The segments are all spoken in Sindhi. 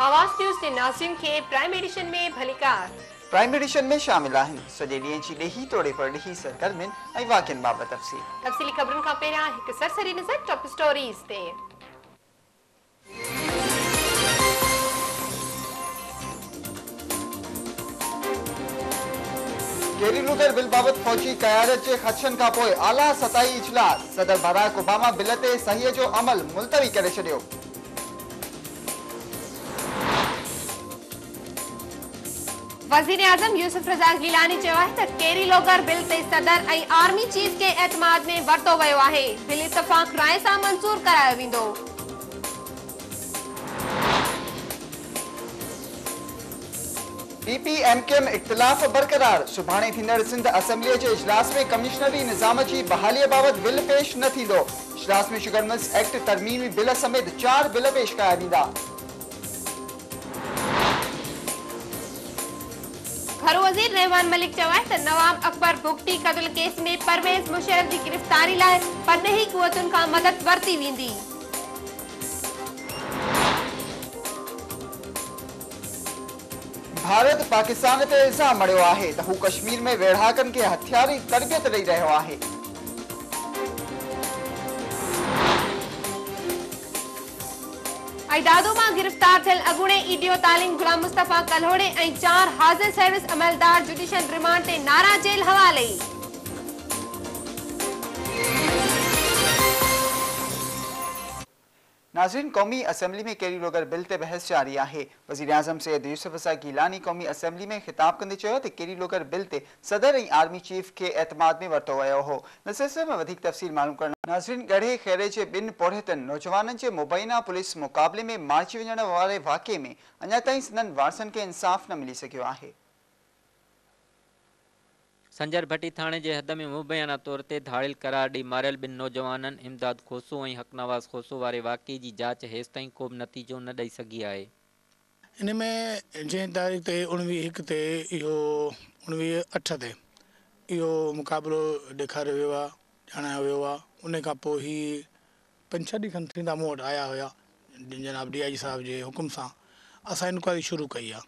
آواز نيوز جي ناظرين کي پرائم ايڊيشن ۾ ڀليڪار. پرائم ايڊيشن ۾ شامل آهن سڄي ڏينهن جي ڏيهي توڙي پرڏيهي سرگرمين ۽ واقعن بابت تفصيل. تفصيلي خبرن کان پهريان هڪ سرسري نظر ٽاپ اسٽوريز تي. ڪيري لوٿر بل بابت فوجي قيادت جي خدشن کانپوء اعليٰ سطحي اجلاس، صدر باراڪ اوباما بل تي صحيح جو عمل ملتوي ڪري ڇڏيو. وزيراعظم يوسف رضا گيلاني چيو آهي ته ڪيري لوگر بل تي صدر ۽ آرمي چيف کي اعتماد ۾ ورتو ويو آهي، بل اتفاق راء سان منظور ڪرايو ويندو. پي پي ايم ڪيم اختلاف برقرار، سڀاڻي ٿيندڙ سنڌ اسيمبليء جي اجلاس ۾ ڪمشنري نظام جي بحاليء بابت بل پيش نه ٿيندو، اجلاس ۾ شگر ملز ايڪٽ ترميمي بل سميت چار بل پيش ڪيا ويندا. گهرو وزير رحمان ملڪ چيو آهي ته نواب اڪبر بگٽي قتل ڪيس ۾ پرويز مشرف جي گرفتاري لاء پرڏيهي قوتن کان مدد ورتي ويندي. ڀارت پاڪستان تي الزام مڙهيو آهي ته هو ڪشمير ۾ ويڙهاڪن کي هٿياري تربيت ڏئي رهيو آهي. اي دادو مان گرفتار ٿيل اڳوڻي اي ڊيو تعليم غلام مصطفيٰ ڪلهوڙي ۽ چار حاضر سروس عملدار جڊيشل ريمانڊ تي نارا جيل حوالي. ناظرين قومي اسيمبلي ۾ ڪيري روگر بل تي بحث جاري آهي، وزيراعظم سيد يوسف رضا گيلاني قومي اسيمبلي ۾ خطاب ڪندي چيو ته ڪيري لوگر بل تي صدر ۽ آرمي چيف کي اعتماد ۾ ورتو ويو هو ان سلسلي ۾ وڌيڪ تفصيل معلوم ڪرڻ ناظرين ڳڙهي خيري جي ٻن پورهيتن نوجوانن جي مبينا پوليس مقابلي ۾ مارجي وڃڻ واري واقعي ۾ اڃا تائين سندن وارثن کي انصاف نه ملي سگهيو آهي. سنجر ڀٽي ٿاڻي جي حد ۾ مبينا طور تي ڌاڙيل قرار ڏئي ماريل ٻن نوجوانن امداد کوسو ۽ حق نواز خوسو واري واقعي جي جاچ هيستائين ڪوبه نتيجو نه ڏئي سگهي آهي. ان ۾ جنهن تاريخ تي اڻويهه هڪ تي اهو اڻويهه اٺ تي اهو مقابلو ڏيکاريو ويو آهي ڄاڻايو ويو آهي ان کان پوء هي پنج ڇهه ڏينهن کن ٿيندا مون وٽ آيا هيا جناب ڊي آء جي صاحب جي حڪم سان اسان انڪوائري شروع ڪئي آهي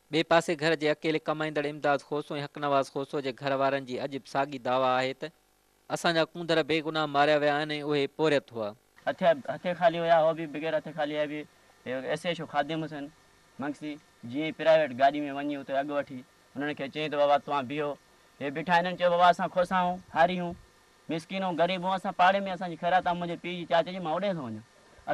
ٻئي پاسي گهر جي اڪيلي ڪمائيندڙ امداد کوسو ۽ حق نواز کوسو جي گهر وارن جي اڄ به ساڳي دعويٰ آهي ته اسان جا ڪونڌر بي گناهه ماريا ويا آهن ۽ اهي پورهيت هئا. هٿي هٿي خالي هيا اهو به بغير هٿي خالي هيا به هيو S H O Khadim Hussain Mangsi جيئن ئي پرائيويٽ گاڏي ۾ وڃي اتي اڳ وٺي انهن کي چيائين ته بابا توهان بيهو هي بيٺا هنن چيو بابا اسان کوسا آهون هاري هون مسڪين هون غريب هون اسان پاڙي ۾ اسان جي خيرات آهي منهنجي پيء جي چاچي جي مان اوڏي ٿو وڃان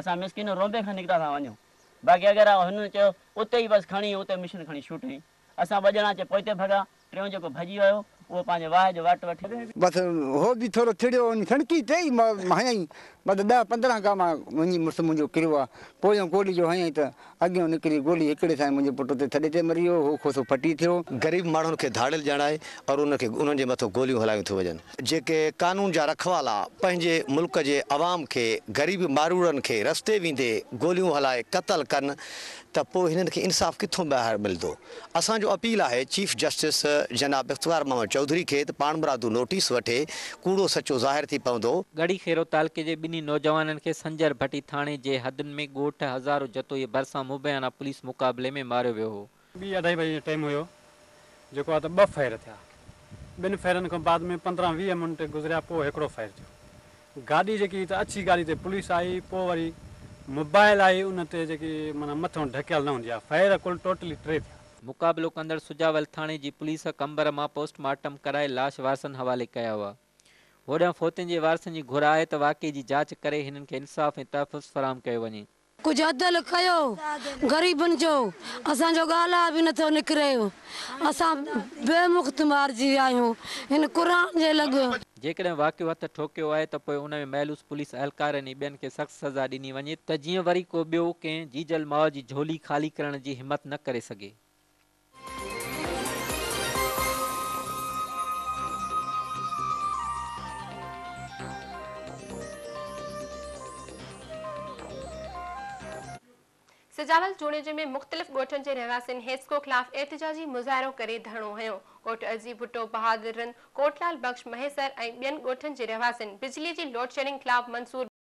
اسان مسڪين رونبي کان نڪتا ٿا وڃون. باقي اگر هن چيو اتي ئي بس کڻي اتي مشن کڻي شوٽنگ اسان ٻه ڄڻا اچي پوئتي ڀڳا ٽيون جيڪو ڀڄي ويو اهو پنهنجي واهه جو وٽ وٺي بس هو به ٿورو چڙيو هو سڻڪي ٽي ئي هنيائين بس ڏهه پندرهن گام وڃي مڙس منهنجو ڪريو آ پويون گولي جو هنيائين ته اڳيون نڪري گولي هڪڙي سان ئي منهنجو پٽ اتي ٿڏي تي مري ويو هو کوسو ڦٽي ٿيو. غريب ماڻهن کي ڌاڙيل ڄاڻائي اور انهن کي انهن جي مٿو گوليون هلايون ٿيون وڃن. جيڪي قانون جا رکوالا پنهنجي ملڪ جي عوام کي غريب مارورن کي رستي ويندي گوليون هلائي قتل ڪن ته پوء هنن کي انصاف ڪٿون ٻاهر ملدو اسان جو اپيل آهي چيف جسٽس جناب افتخار محمد چوڌري کي ته پاڻمرادو نوٽيس وٺي ڪوڙو سچو ظاهر ٿي پوندو. ڳڙهي خيرو تعلقي جي ٻنهي نوجوانن کي سنجر ڀٽي ٿاڻي جي حدن ۾ ڳوٺ هزارو جتوئي ڀرسان مبينا پوليس مقابلي ۾ ماريو ويو هو. ٻي اڍائي بجي جو ٽيم هيو، جيڪو آهي ته ٻه ڦير ٿيا. ٻن ڦيرن کان بعد ۾ پندرهن ويهه منٽ گذريا پوء هڪڙو ڦير ٿيو. گاڏي جيڪي هئي ته اڇي گاڏي تي پوليس آئي پوء وري موبائل آئي ان تي جيڪي معنيٰ مٿيون ڍڪيل نه هوندي آهي. ڦير ڪل ٽوٽلي ٽي ٿيا. مقابلو ڪندڙ سجاول ٿاڻي جي پوليس قمبر مان پوسٽ مارٽم ڪرائي لاش وارثن حوالي ڪيا هئا. هوڏانهن فوتين جي وارثن جي گهر آهي ته واقعي جي جاچ ڪري هنن کي انصاف ۽ تحفظ فراهم ڪيو وڃي. ڪجهه عدل ڪيو غريبن جو اسان جو ڳالهه به نٿو نڪري اسان به مفت مارجي ويا آهيون هن قرآن جي لڳ. جيڪڏهن واقعو هٿ ٺوڪيو آهي ته پوء ان ۾ ملوث پوليس اهلڪارن ۽ ٻين کي سخت سزا ڏني وڃي ته جيئن وري ڪو ٻيو ڪنهن جيجل ماء جي جهولي خالي ڪرڻ جي همت نه ڪري سگهي. سجاول جوڻيجي ۾ مختلف ڳوٺن جي رهواسين هيسڪو خلاف احتجاجي مظاهرو ڪري ڌرڻو هنيو، ڳوٺ عزيز ڀٽو، بهادر رند، ڪوٽلال بخش، مهيسر ۽ ٻين ڳوٺن جي رهواسين بجلي جي لوڊشيڊنگ خلاف منصور.